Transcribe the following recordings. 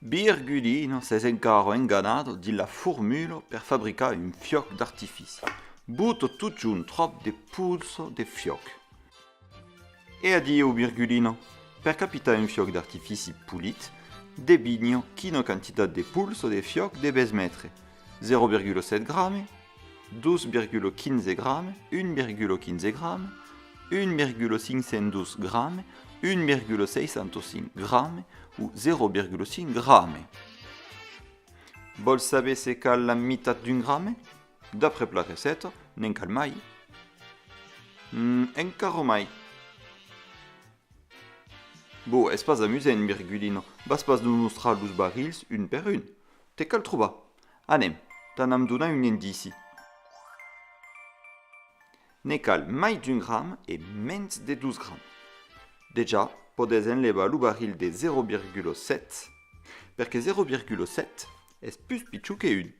Bir Gudino s'es encara enganado dins la formula per fabricar un fiòc d'artifici. Buto totjorn tròp de pulso de fiòc. E adieu Virgulino! Per capitar un fiòc d'artifici polit, debinho quina quantitat de pols o de fiòc debes metre, 0,7 grame, 2,15 grame, 1,15 grame, 1,512 grame, 1,605 grame o 0,5 grame. Vòls saber se cal la mitat d'un grame? D'après la receta, n'en cal mai? En carò mai. Bon, es pas amusent, Virgulino, vas pas nos mostrar los barrils un per un. Te cal trobar. Anem, t'anam donar un indici. Ne cal mai d'un gram e mens de dos grams. Dejà, podètz enlevar lo barril de 0,7, perque 0,7 es pus pichon que un.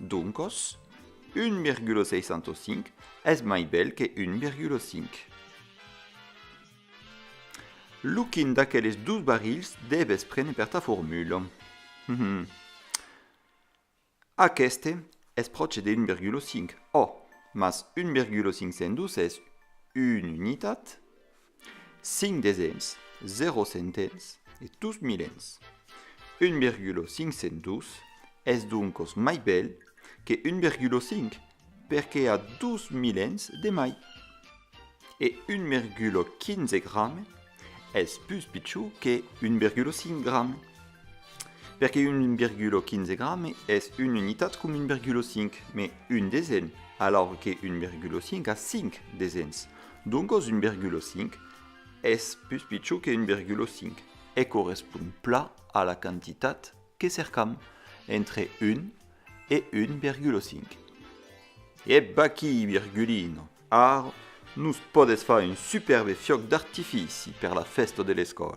Doncos, 1,605 es mai bèl que 1,5. Lo quin d'aqueles dos barrils dèves prene per ta formula? Aqueste es pròche de 1,5. Òh, mas 1,502 es una unitat, Cinc desens, zero centens e dus milens. Un virgula cinc cent dus es doncos mai bèl que un virgula cinc perque a dus milens de mai. E un virgula quinze grame es pus pichó que un virgula cinc grame. Perque un virgula quinze grame es un unitat com un virgula cinc, mes un desen, alaur que un virgula cinc a cinc desens. Doncos 1,5 es pus pichon que 1,5 e correspon pla a la quantitat que cercam, entre 1 e 1,5. Ebba aquí, Virgulino, ara nos pòdes far un supèrbe fiòc d'artifici per la fèsta de l'escòla!